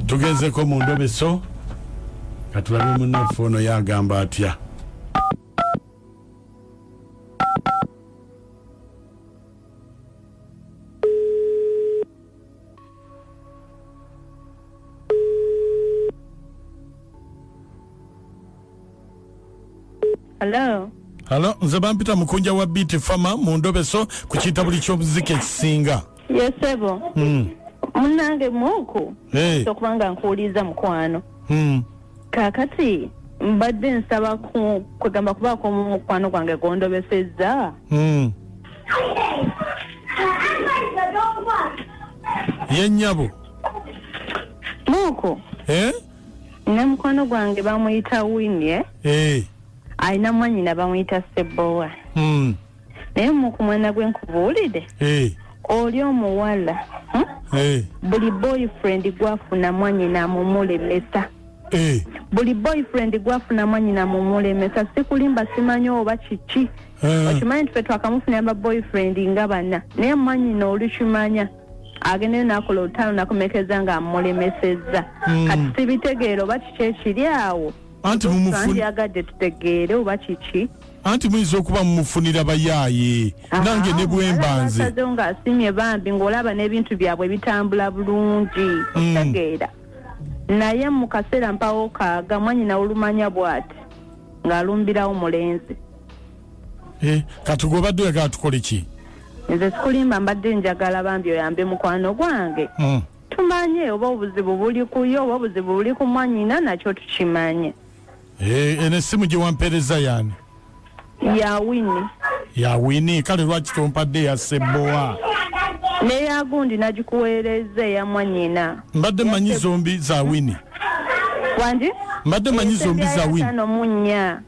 tugezeko mu ndobeso katulabe munaffe ono yagamba atya Hello. Hello, nze bampita mukunja wa Beat Farmer mu ndobeso ku kitabuli ky'omuziki ekisinga. Yes, sebo. Mm. Munange muku. Hey. Tokubanga nkuuliza mukwano. Mm. Kakati mbadde nsaba ku kwegamba kubaako mu mukwano gwange gwondobesezza. Mm. Ye nyabo. Muku. Eh? ne mukwano gwange bamuyita winie eh. alina mwanyina bamuyita sebowa mm. naye muku mwana gwe nkubuulire eh. oli omuwala hmm? eh. buli boyfriend gwafuna mwanyina mumulemesa eh. buli boyfriend gwafuna mwanyina mumulemesa sikulimba simanyi oba kiki eh. okimanyi nti fe twakamufunira ba boyfriend nga bana naye mwanyina olikimanya agendeyo nakola olutalo nakomekeza nga amulemesezza hmm. kati sibitegeera oba kiki ekiri awo anti mumufunyagadde tutegeere oba kiki anti muyinza okuba mumufunira bayaaye nange ne bwembanze nga asimye bambi ng'olaba n'ebintu byabwe bitambula bulungi hmm. otegeera naye mu kaseera mpawo kaaga mwanyina olumanya bw'ati ng'alumbirawo mulenzi Eh, kati gwobadde oyagala tukole ki nze sikulimba mbadde njagala bambi oyambe mukwano gwange hmm. tumanye oba obuzibu buli kuyo oba obuzibu buli ku mwanyina nakyo tukimanye eh, eno essimu gye wampeereza yani ya wini ya wini kale lwaki tompadde ya sebbowa neya gundi nagikuweereza eya mwanyina mbadde manyi zombi za wini wandi mbadde manyi zombi za wini munya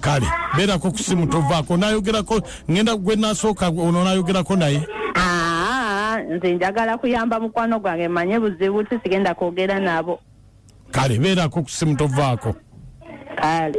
kale beerako ku simu tovaako nayogerako ngenda gwe nasooka ono nayogerako naye nze njagala kuyamba mukwano gwange manye buzibu ti sigenda kwogera nabo kale beerako ku simu tovaako kale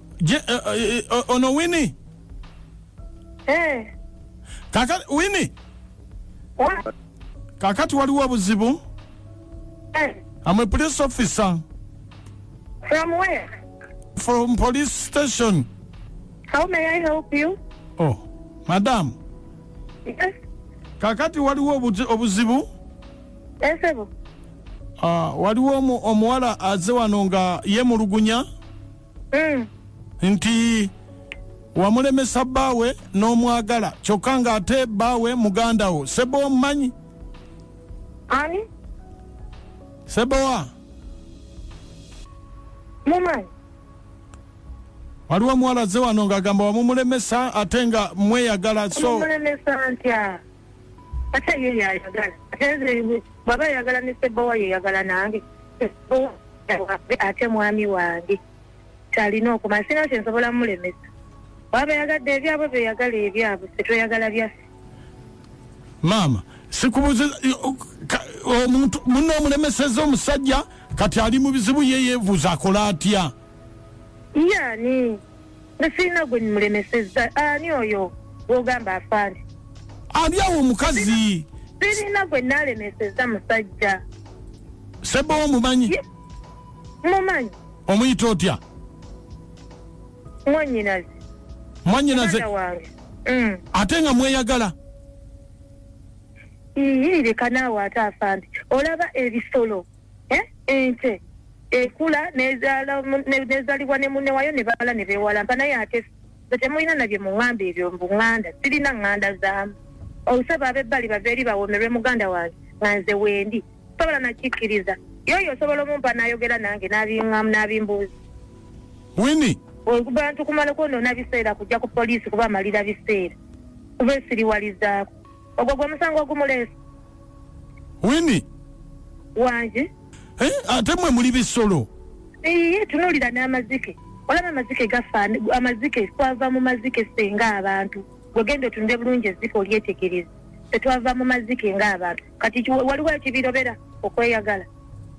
Je, eh, eh, eh, o- ono wini Eh, kaka wini wa- kakati waliwo obuzibu eh, am a police officer from where? from police station How may I help you? oh madam Yes, kakati waliwo obuzi- obuzibu yes, sebo. Ah, waliwo omu- omuwala aze wano nga yemulugunya Mm. nti wamulemesa bbaawe n'omwagala kyokka ng'ate bbaawe muganda wo sebo omumanyi Ani? sebowa Mumanyi? waliwo omuwala azze wano ng'agamba wamumulemesa ate nga mweyagala so Mumulemesa ntya? ate ye yayagala ate bwaba yayagala ne sebbowa yeyagala nange wange ate mwami wange kyalina okumanya sina kyensobola mulemesa bwaba yagadde ebyabwe beyagala ebyabwe fetweyagala byaffe maama sikubuze omuntu muno omulemeseza omusajja kati ali mu bizibu yeyevuuza akola atya yani nze sirina gwe mulemesezza ani oyo gwogamba afaani ani awo omukazi sirina gwe nalemesezza musajja sebo omumanyi mumanyi omuyita otya mwanyinaze mwanyinaze mm. ate nga mweyagala iyirireka naawe ate afaani olaba ebisolo Eh, ente ekula nezaala mu- ne- nezalibwa ne mune wayo ne bala ne bewalampa naye ate fe temulina nabye muŋŋamba ebyo mbu ŋŋanda sirina ŋŋanda zaamu olusaba abebbali bava eri bawomerwe muganda wange nga nze wendi sobola nakikkiriza yoyo osobola omumpa n'ayogera nange n'abiŋŋamu n'abimbuuza wini abantu kumala kwonoona biseera kujja ku poliisi kuba amalira biseera kuba esiriwalizaako ogwo gwe musango ogumuleese wini wangi Eh, ate mwe muli bisolo iye tunuulira n'amazike olaba amazike gafa amazike twava mu mazike ffe ng'abantu gwegenda otunde bulungi ezzike olyetegereza ffe twava mu mazike ng'abantu kati ki- waliwo ekibirobera okweyagala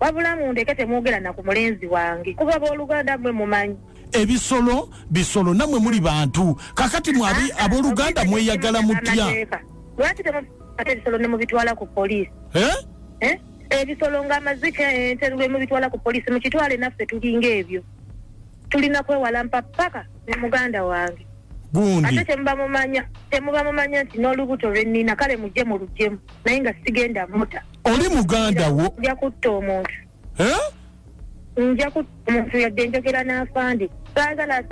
wabula mundeke temwogera na ku mulenzi wange kuba booluganda mmwe mumanyi ebisolo bisolo namwe muli bantu kakati mwe abi- Ah, ah, abooluganda obitegedde mweyagala mutya bannamateeka. lwaki temukwata ebisolo ne mubitwala ku poliisi Eh? Eh? ebisolo nga amazike ente lwe mubitwala ku poliisi mukitwale naffe tulinga ebyo tulina kwewalampa paka ne muganda wange ate gundi temuba mumanya temuba mumanya nti n'olubuto lwe nnina kale mujje mu lujemu naye nga sigenda muta oli muganda wo nja kutta omuntu nja ku omuntu yadde njogera n'afandi saagala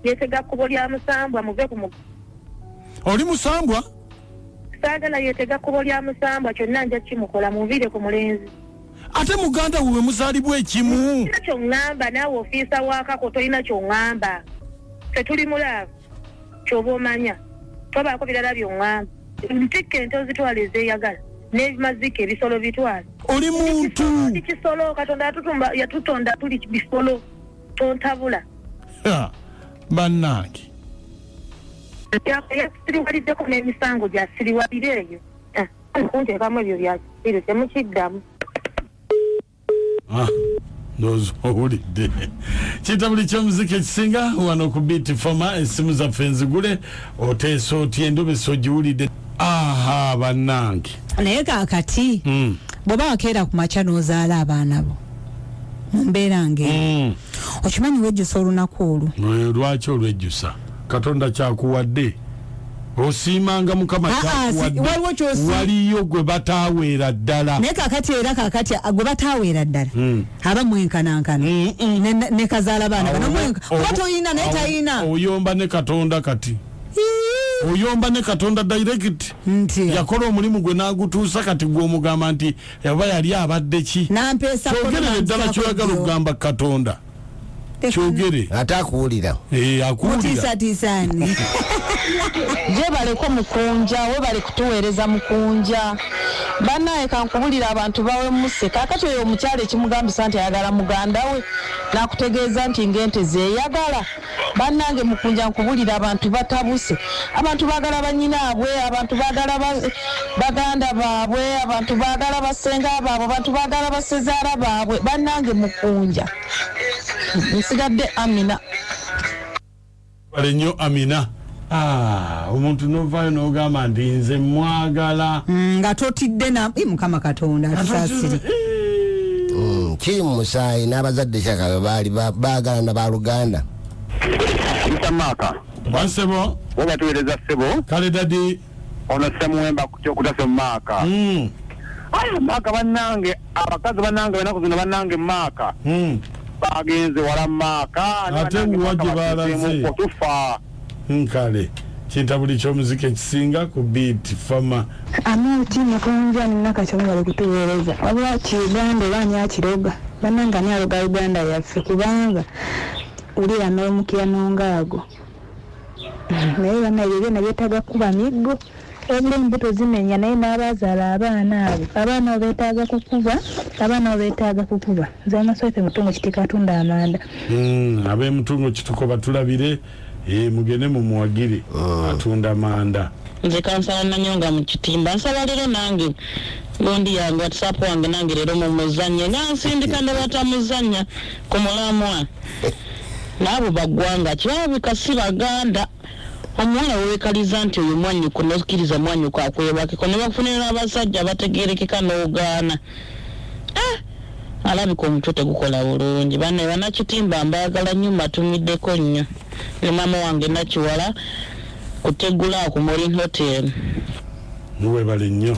yetega kkubo lya musambwa muve ku mugo oli musambwa saagala yetega kkubo lya musambwa kyonna nja kimukola munviire ku mulenzi ate muganda wewe muzaalibwa ekimu kyoŋŋamba naawe ofiisa wakako tolina kyoŋŋamba fetuli mulaavu kyoba omanya tobaako birala byoŋŋamba ntikka ente ozitwala ezeeyagala n'ebimazika ebisolo bitwala oli muntu kisolo katonda yatutonda tuli bisolo tontabula bannange yasiriwaliddeko n'emisango gyasiriwalira eyo ah, kunteekamu ebyo byakiro temukiddamu ah, ndowooza owulidde kitabuli ky'omuziki ekisinga wano ku biiti foma essimu zaffe nzigule oteesa otya endobesa ogiwulidde aha bannange naye kakati mm. bw'oba wakeera ku makya n'ozaala abaana bo mu mbeera ng'eyo mm. okimanyi wejjusa olunaku olwo lwaki olwejjusa katonda kyakuwadde osiimanga mukama waliyo gwe bataaweera ddala naye kakati era kakati gwe bataaweera ddala hmm. aba mwenkanankana hmm, hmm. ne kazaala baana oba toyina naye tayina oyomba ne katonda kati oyomba ne katonda direct nti yakola omulimu gwe nagutuusa kati gwomugamba nti aba yali abadde ki kyogerere ddala kyoyagala okugamba katonda kyogere ate akuwulira eh, akuwuliratisatiisani gyebaleko mukunja webale kutuweereza mukunja banaye kankubulira abantu bawemuse kakati oyo omukyalo ekimugambisa nti ayagala muganda we nakutegeeza nti ngente zeyagala Banange mukunja nkubulira abantu batabuse abantu bagala banyinabwe abantu bagala baganda babwe abantu bagala basenga babwe abantu bagala basezara babwe banange mukunja nsigadde amina bale nyo amina Ah, omuntu novayo nogamba nti nze mwagala mm, nga totidde na mukama katonda atusasire mm, kiri mu musaayi n'abazadde kyakabe baali baagala na baluganda mr maaka wasebo oba tuwereza sebo kale dadi ono semuwemba akutte okutasa omumaaka hmm. aye maaka bannange abakazi bannange banaku zino bannange maaka hmm. bagenze wala maaka ate wuwa gye balaze okutufa nkale kinta buli kyomuzika ekisinga ku biiti fama amuti mukunja ninakakyomubali kutuweereza wabula kiuganda oba ani akiroga bannange ani aloga uganda yaffe kubanga wulira n'omukira n'ongaago naye bana ebyo byona byetaaga kukuba miggo wabula embuto zimenya naye n'abaazaala abaana abo abaana abo betaaga kukuba abaana abo betaaga kukuba nze amasooke mutungo kitika atunda amanda hmm, ab'emutungo kituko batulabire eh, mugende mumuwagire ah. atunda amanda nze kansala nanyonga mu kitimba nsaba leero nange gundi yange whatsapp wange nange leero mumuzanye nansindika ne batamuzanya ku mulamwa naabo baggwanga kirabika si baganda omuwala wewekaliza nti oyo mwanyoko nokiriza mwanyoko akwebakeko nebakufunira abasajja abategerekeka nogaana ah! alabika omutwe tegukola bulungi bana banakitimba mbagala nyo mbatumideko nyo ne mama wange nakiwala kutegula ku morin hotel muwebale nyo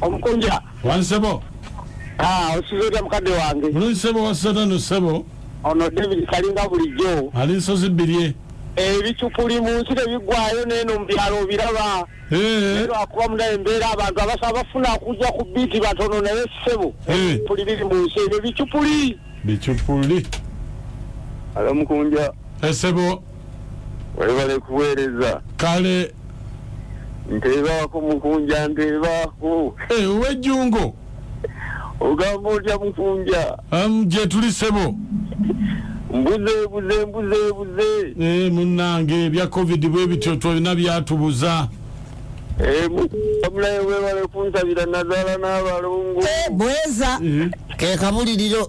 omukunja wansebo ah, osizota mukadde wange bulungi sebo wasota no sebo ono david kalinga bulijjo ali nsozi bbirye ebicupuli mu nsi tebiggwayo neeno mu byalo obiraba eh. lwakuba muna embeera abantu abasa bafuna kujja ku biiti batono naye sebo eh. puli biri mu nsi ebyo bicupuli bicupuli alo mukunja esebo eh, Webale kuweereza. Kale. Nteebaako mukunja nteebaako. Hey, eh, owejjungo. Ogamba otya mukunja? Um, gye tuli sebo. Mbuze buze mbuze buze. Eh, munnange ebya covid bwe bityo twalina byatubuza. Eh, mulaye webale kunsabira nazaala n'abalongo. Eh, bweza. Eh. Ke kabuliriro.